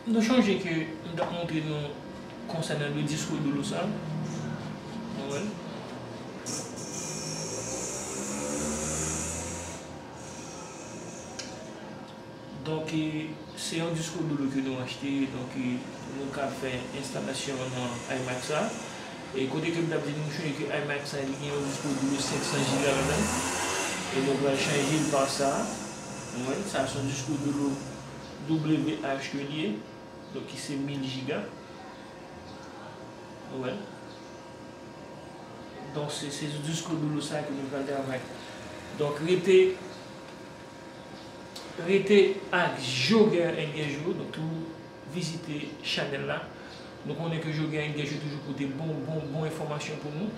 Nou chonje ke m tap montre nou konsènan de disko dolo sa. Nou wè l. Donk, se yon disco dodo ke nou achte, donk nou ka fè enstalasyon an nan iMac sa. E kote ke m t ap di nou, mouche ke iMac sa li gen yon disco dodo 500 giga ladan l, e nou pral chanje l pa sa. Ou wè, sa se yon disco dodo WH ke li ye, donk ki se 1000 giga. Ou wè? Donk se sou disco dodo sa ke nou pral travay. Donk rete. Rete ak Joguer Inguejou nou tou vizite chanèl la nou konnen ke Joguer Inguejou toujou pote bon bon bon enfòmasyon pou nou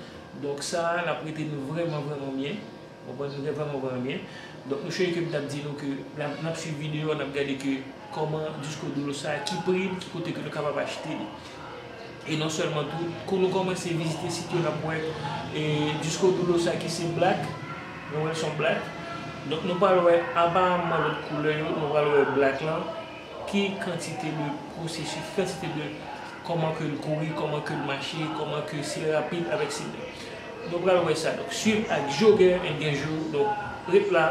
donk sa lap rete nou vrèman vrèman byen nou vrèman vrèman byen donk nou chonje ke m tap di nou ke nap swiv videyo a nap gade ke Kòman Disco Dolo sa, ki pri l, ki kote ke nou kapab achte li. E non sèlman tou, kou nou kòmanse vizite sit yo nap wè e Disco Dolo sa ki se black, nou wè l son black. Donk nou pral wè aparamman lòt koulè yo, nou pral wè black lan, ki kantite de pwosesis, ki kantite de kòman ke l kouri, kòman ke l mache, kòman ke si l rapid avèk si l lè. Nou pral wè sa. Donk swiv ak Joguè and Genjo. Donk ret la.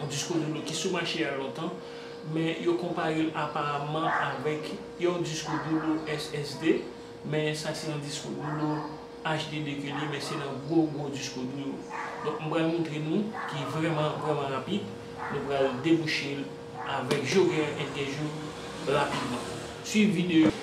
yon diskou de dlo ki sou mache a lontan, men yo konpare l aparamman avèk yon diskou de dlo SSD, men sa se yon diskou de dlo HDD ke li ye, men se nan gwo gwo diskou dlo yo. Donk m pral montre nou ki vrèman vrèman rapid, nou pral debouche l avèk jou gen yon entèjou rapidman. Swiv videyo a.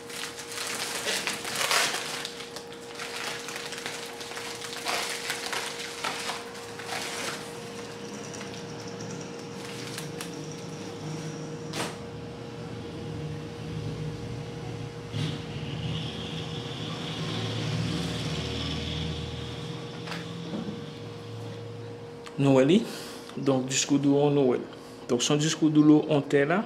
Nou wè li, donk diskou dou an nou wè. Donk son diskou dou lou an tè la.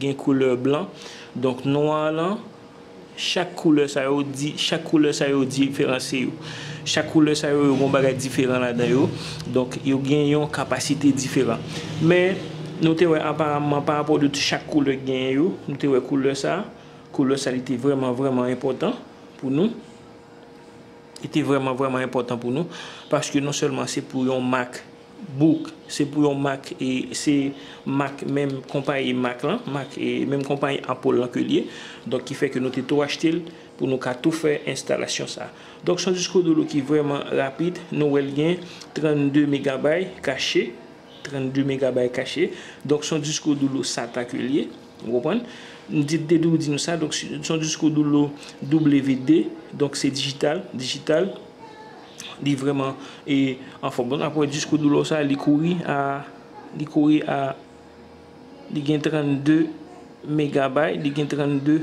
Gen koulè blan. Donk nwa lan, chak koulè sa yo di, chak koulè sa yo diferanse yo. Chak koulè sa yo, yo gen yon bagay diferan ladan yo. Donk yo gen yon kapasite diferan. Men, nou te wè aparamman parapò de chak koulè ki genyen yo, nou te wè koulè sa, koulè sa li te vrèman vrèman enpòtan pou nou. Li te vrèman vrèman enpòtan pou nou. Paske non sèlman se pou yon mak. Book se pou yon mak e se mak menm konpayi mak lan, mak e menm konpayi Apple lan ke li ye. Donk ki fè ke nou te tou achte l pou nou ka tou fè enstalasyon sa. Donk son disko dolo ki vrèman rapid, nou wè l gen 32 megabay kache, 32 megabay kache. Donk son disko dolo sata ke li ye, ou konprann. M di te tou di nou sa, donk son disko dolo WD, donk se dijital, dijital. Li vreman e anfom. Donk apre diskou doulor sa li kouri a li kouri a li gen 32 megabay li gen 32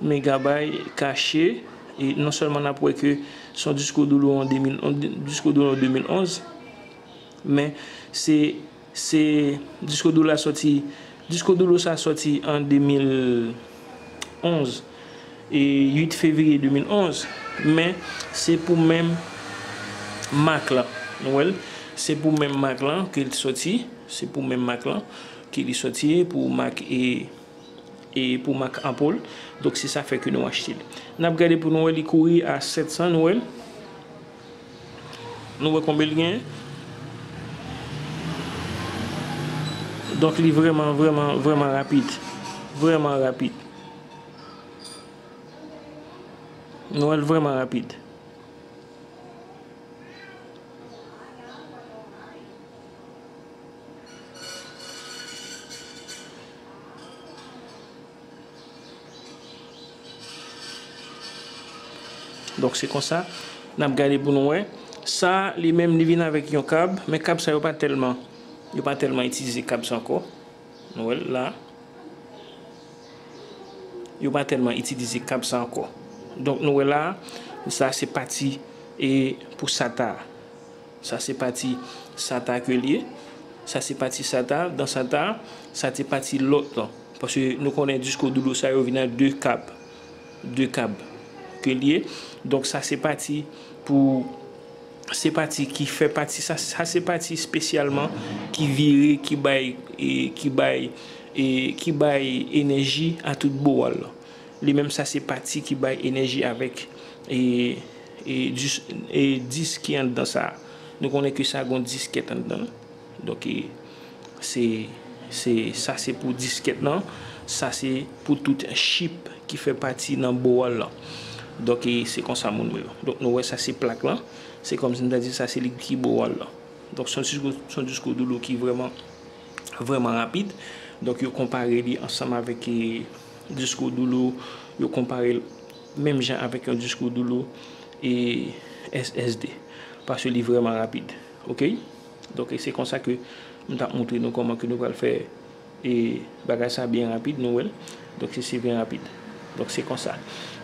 megabay kache e non selman nap wè ke son diskou doulor an 2011 men se Se Disco Duro la sòti Disco Duro sa sòti an 2011 e 8 fevriye 2011 men se pou menm mak lan nou wèl se pou menm mak lan ke li sòti se pou menm mak lan ke li sòti e pou mak e e pou mak Ampol donk se sa fè ke nou achte li nap gade pou nou wè li kouri a 700 nou wèl. Nou wè konbe l gen. Donk li vreman vreman vreman rapid. Vreman rapid. Nou wè l vreman rapid. Donk se konsa n ap gade pou nou wè. Sa a li menm li vin avèk yon kab. Men kab sa yo pa tèlman yo pa tèlman itilize kab sa ankò. Nou wè l la. Yo pa tèlman itilize kab sa ankò. Donk nou wè la a. Sa a se pati e pou sata a. Sa se pati sata ke li ye. Sa se pati sata, dan sata, sa te pati lòt lan. Paske nou konnen disko dodo sa yo vin ak 2 kab. 2 kab ke li ye. Donk sa se pati pou, se pati ki fè pati, sa se pati spesyalman ki vire, ki bay, ki bay, ki bay enèji a tout bowal lan. Li menm sa se pati ki bay enèji avèk E disk ki anndan sa? Nou konnen ke sa gen yon diskèt anndan l. Donk, sa se pou diskèt lan. Sa se pou tout chip ki fè pati nan board lan. Donk, se konsa moun yo. Donk, nou wè sa se plak lan. Se kòmsi m ta di sa se li ki board lan. Donk, se yon disco dolo ki vrèman, vrèman rapid. Donk, yo konpare li ansanm avèk disco dolo. Yo konpare l. Menm jan avèk yon diskou doulou e SSD. Paske li vrèman rapid. Ok. Donk se konsa ke m tap moutre nou kòman ke nou pral fè e bagay sa byen rapid nou wèl. Donk se byen rapid. Donk se konsa.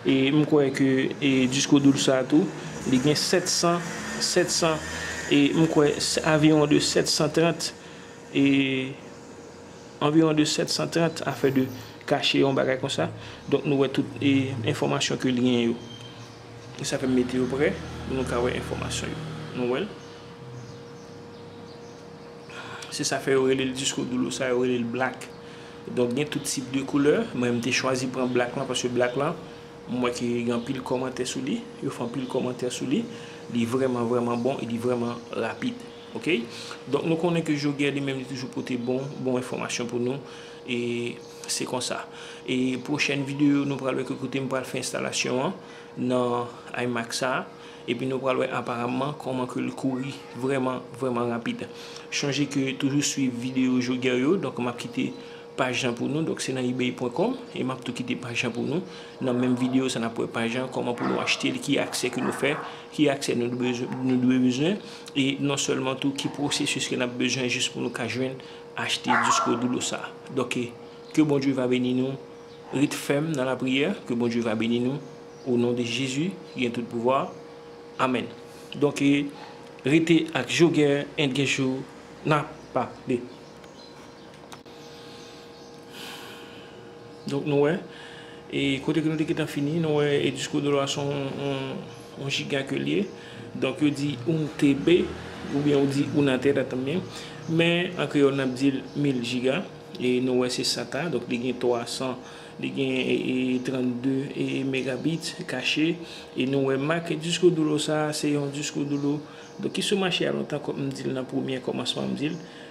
E m kwè ke e diskou doul sa tou li gen 700 700 e m kwè aviwon de 730 e. Anviwon de 730 afè de kache yon bagay konsa. Donk nou wè tout enfòmasyon ke li gen yo. E sa fè m mete yo pre pou nou ka wè enfòmasyon yo. Nou wè l? Se sa fè yo rele l disco duro sa, yo rele l black. Donk gen tout tip de koulè. Mwen m te chwazi pran black lan paske black lan m wè ke gen anpil kòmantè sou li. Yo fè anpil kòmantè sou li. Li vrèman vrèman bon e li vrèman rapid. Ok donk nou konnen ke Jogè li menm li toujou pote bon bon enfòmasyon pou nou e se konsa e pwochèn videyo nou pral wè ki kote m pral fè enstalasyon an nan iMac sa epi nou pral wè aparamman kòman ke l kouri vrèman vrèman rapid chonje ke toujou swiv videyo Jogè yo donk m ap kite Paj lan pou nou donk se nan ebay pwen kòm e map tou kite paj lan pou nou nan menm video sa nap wè paj lan kòman pou nou achtel ki aksè ke nou fè ki aksè nou nou dwe bezwen e non sèlman tou ki pwosesis ke nap bezwen jis pou nou ka jwenn achte disko dou lou sa donk ke Bondye va beni nou ret fèm nan lapriyè ke Bondye va beni nou o non de Jezi ki gen tout pouvwa amèn donk rete ak Joguer and Guerchou nap pale. Donk nou wè, e kote ke nou te gentan fini, nou wè e diskou de lwa son yon jiga ke li ye. Donk yo di oun TB, oubyen ou di ouna tera tanmen. Men, an kreyòl nap di l mil jiga. E nou wè se sa ka, donk li gen 300, li gen 32 e megabit kache. E nou wè mak diskou de lwa sa, se yon diskou de lwa, donk ki sou mache a lontan kòm m di l nan premye kòmansman m di l.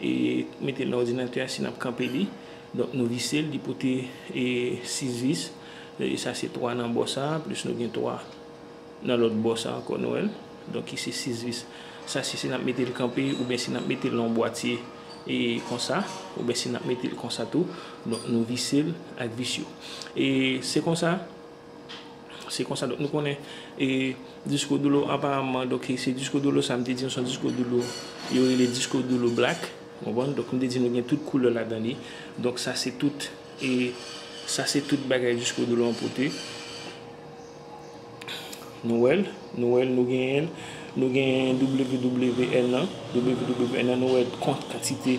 E mete l nan òdinatè a si n ap kanpe li. Donk nou vise l, li pote 6 vis. Sa se 3 nan bò sa a, plis nou gen 3 nan lòt bò sa a ankò, nou wè l? Donk ki se 6 vis. Sa se si n ap mete l kanpe oubyen si n ap mete l nan yon bwatye konsa, oubyen si n ap mete l konsa tou. Donk nou vise l ak vis yo. E se konsa. Se konsa nou konnen e disco dolo aparamman donk se disco dolo sa m te di nou se yon disco dolo yo rele disco dolo black ou konprann donk m te di nou gen tout koulè ladan li donk sa se tout e sa se tout bagay disco dolo an pote nou wè l nou wè l nou genyen l nou genyen WWN nan WWN nan nou wè kont kantite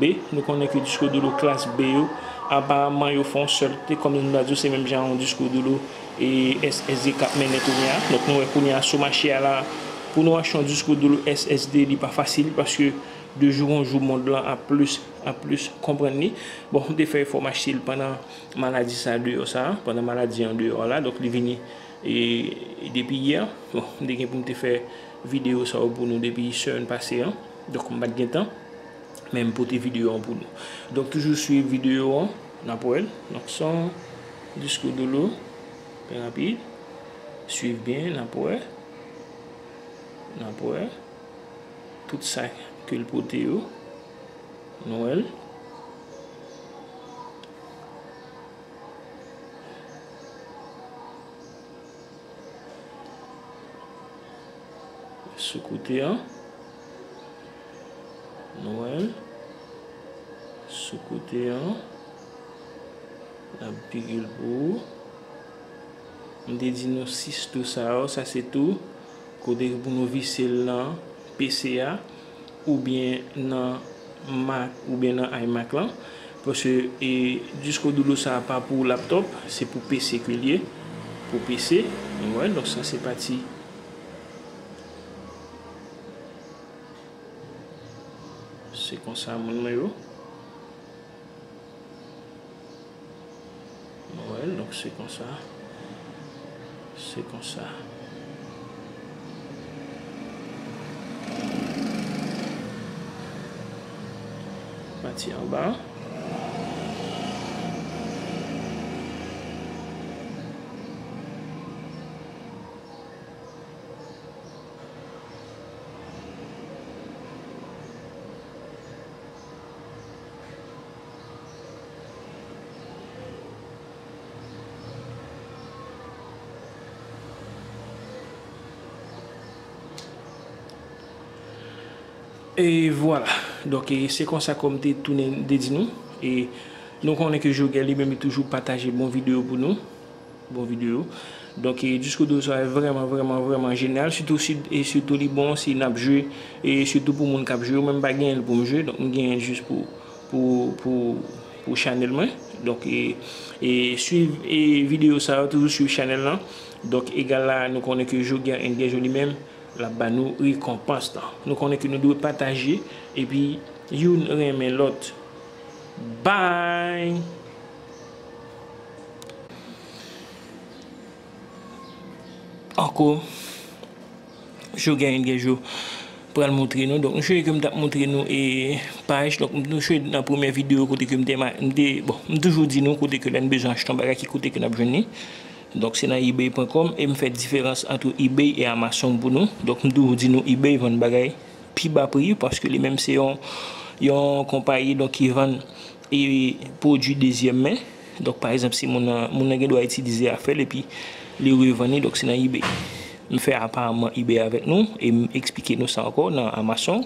B, Nou konnen ke diskou doulou klas B yo, aparamman yo fè yon sèl kote, kòm nou ta di yo se menm jan yon diskou doulou SSD k ap mennen kounye a. Donk nou wè kounye a sou mache a la a, pou nou achte yon diskou doulou SSD li pa fasil paske de jou an jou mond lan ap plis ap plis konprann li. Bon, m te fè efò m achte l pandan maladi sa a deyò sa a, pandan maladi an deyò a la a, donk li vini depi yè. Bon, m te gen pou m te fè videyo sa yo pou nou depi semèn pase an, donk m pa t gen tan. Men m pote video an pou nou. Donk toujou swiv video an, n ap wè l. Donk son diskou dolo, byen rapid. Swiv byen, n ap wè. N ap wè. Tout sa ke l pote yo. Nou wè l. Sou kote an. Nou wèl sou kote an. Nap pigil pou ou. M te di nou 6 tou sa yo, sa se tou kote pou nou vise l nan PC a oubyen nan Mac oubyen nan iMac lan. Paske e disko doulou sa pa pou laptop, se pou PC ke l ye. Pou PC, nou wè donk sa se pati Se konsa moun mwen yo. Mwen, donk se konsa. Se konsa. Pati anba. Et voilà donc se konsa kòm te tounen te di nou e nou konnen ke Jogèl li menm li toujou pataje bon videyo pou nou Bon video. Donk diskou do sa vrèman vrèman vrèman jenyal sitou si e sitou li bon si nap jwe e sitou pou moun kap jwe yo menm pa genyenl poum jwe donk m genyenl jis pou pou pou pou chanèl mwen donk e e swiv e video sa yo toujou swiv chanèl lan donk egal la nou konnen ke jou gen en gen jou li menm lap ba nou rekonpans lan nou konnen ke nou dwe pataje epi youn renmen lòt bby. Anko Jou genyen gen jou pral moutre nou donk misye kem tap moutre nou e paj donk misye nan premye video kote kem te bon m toujou di nou kote ke lè nou bezwen achte yon bagay ki kote ke nap jwenn li donk se nan ebay pwen kòm em fè diferans antre ebay e amazon pou nou donk m toujou di nou ebay vann bagay pi ba pri paske li menm se yon yon konpayi donk ki vann. E pwodui dezyèm men, donk pa egzanp si moun nan, moun nan gen dwa itilize afè l epi li revann li, donk se nan ebay. M fè aparman ebay avèk nou e m eksplike nou sa ankò nan amazon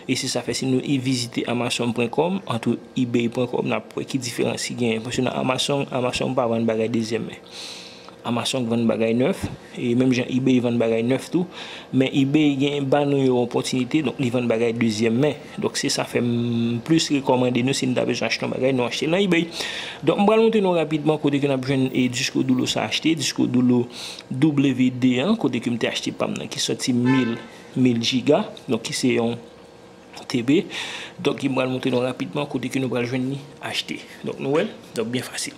e se sa fè si nou vizite amazon pwen kòm antou ebay pwen kòm n ap wè ki diferans ki genyen paske nan amazon amazon pa vann bagay dezyèm men. Amazon vann bagay nèf, e menm jan ebay vann bagay nèf tou, men ebay gen ban nou yon opòtinite, donk li vann bagay dezyèm men, donk se sa fè m plis rekòmande nou si nou ta bezwen achte yon bagay nou achte l nan ebay. Donk m pral montre nou rapidman kote ke n ap jwenn e disko doulou sa achte, disko doulou WD an, kote ke m te achte pa m nan ki sòti mil, mil jiga, donk ki se yon TB, donk m pral montre nou rapidman kote ke nou pral jwenn li achte, donk nou wè l, donk byen fasil.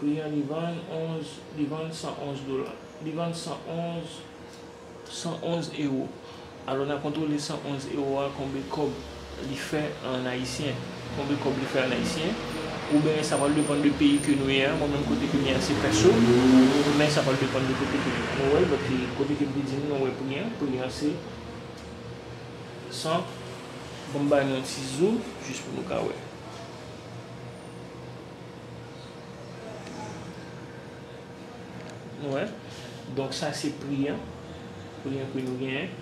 Pri an li vann 11, li vann 111 dola, li vann 111, 111 ewo. Alò n a kontwole 111 ewo a konbe kòb li fè an ayisyen, konbe kòb li fè an ayisyen. Oubyen sa pral depann de peyi ke nou ye a. Mwen menm kote ke m ye a se pèso. Men sa pral depann de kote ke nou wè l. But ke kote ke m te di nou mwen wè pri an, pri an se 100, bon m bay nou yon ti zoom jis pou nou ka wè. Nou wè, donk sa se pri an, pri an ke nou genyen.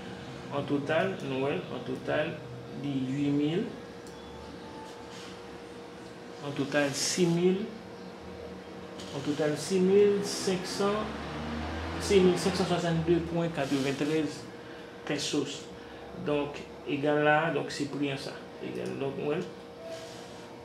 An total, nou wè l, an total li 8 mil, an total 6 mil, an total 6 mil 500, 6 mil 562 pwen 93 pèsos. Donk, egal la, donk se pri an sa. Egal, donk nou wè l.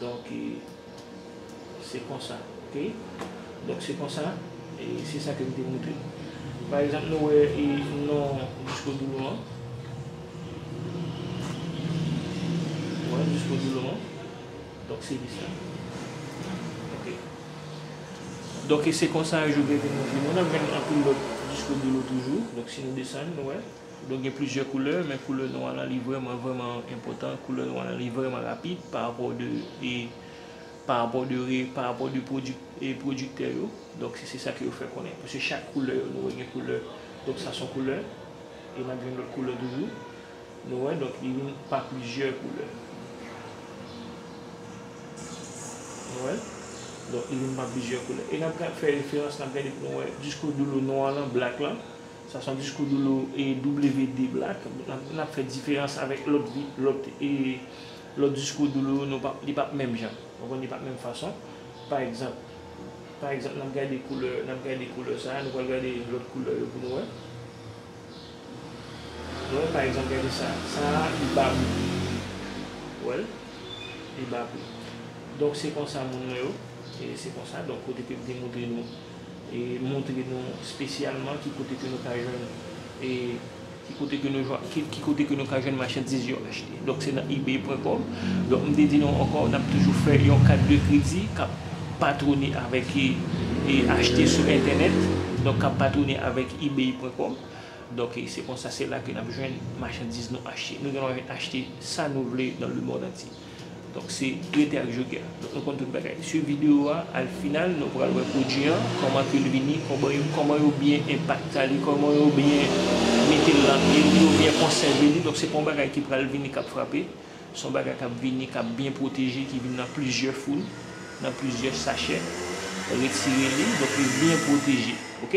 Donk e se konsa. Ok. Donk se konsa. E se sa ke m te montre. Pa egzanp nou wè e non disko dou lou an. Wè disko dou lou an. Donk se lis la. Ok. Donk e se konsa yo jwe Gèvin Mounjou. Nou nan menm anpil lòt diskou de lo toujou. Donk si nou desann, nou wè. Donk gen plizyè koulè, men koulè nwa lan li vrèman, vrèman enpòtan. Koulè nwa lan li vrèman rapid pa rapò de e pa rapò de re pa rapò de pwodi e pwodiktè yo. Donk se se sa ke yo fè konnen. Paske chak koulè yo nou wè gen koulè. Donk sa son koulè. E n ap jwenn lòt koulè toujou. Nou wè donk li vin pa plizyè koulè. Nou wè? Donk li vin pa plizyè koulè. E n ap fè referans, n ap gade pou nou wè diskou doulou nwa lan, black lan. Sa se yon diskou doulou e WD black. N ap fè diferans avèk lòt vi, lòt e, lòt diskou doulou yo nou pap, li pap menm jan. Nou konn li pap menm fason. Pa egzanp, pa egzanp n ap gade koulè, n ap gade koulè sa a, nou pral gade lòt koulè yo pou nou wè. Mwen pa egzanp gade sa. Sa a li ba bri. Ou wè l? Li ba bri. Donk se konsa moun mwen yo. E se konsa donk kote ke m te montre nou e montre nou spesyalman ki kote ke nou ka jwenn e ki kote ke nou ki kote ke nou ka jwenn machandiz yo achte. Donk se nan ebay pwen kòm. Donk m te di nou ankò n ap toujou fè yon kat de kredi k ap patwone avèk e achte sou entènèt. Donk k ap patwone avèk ebay pwen kòm. Donk se konsa se la ke nap jwenn machandiz nou achte. Nou gen dwa vin achte sa nou vle nan le mond antye. Donk se rete ak Joker. Donk nou konn tout bagay. Swiv video a al final nou pral wè pwodwi an kòman ke l vini, kòman yo byen enpakta li, kòman yo byen mete l lan pye li, yo byen konsève li. Donk se pa yon bagay ki pral vini kap frape. Se yon bagay kap vini, kap byen pwoteje, ki vin nan plizyè foul, nan plizyè sachè. Retire li, donk li byen pwoteje. Ok.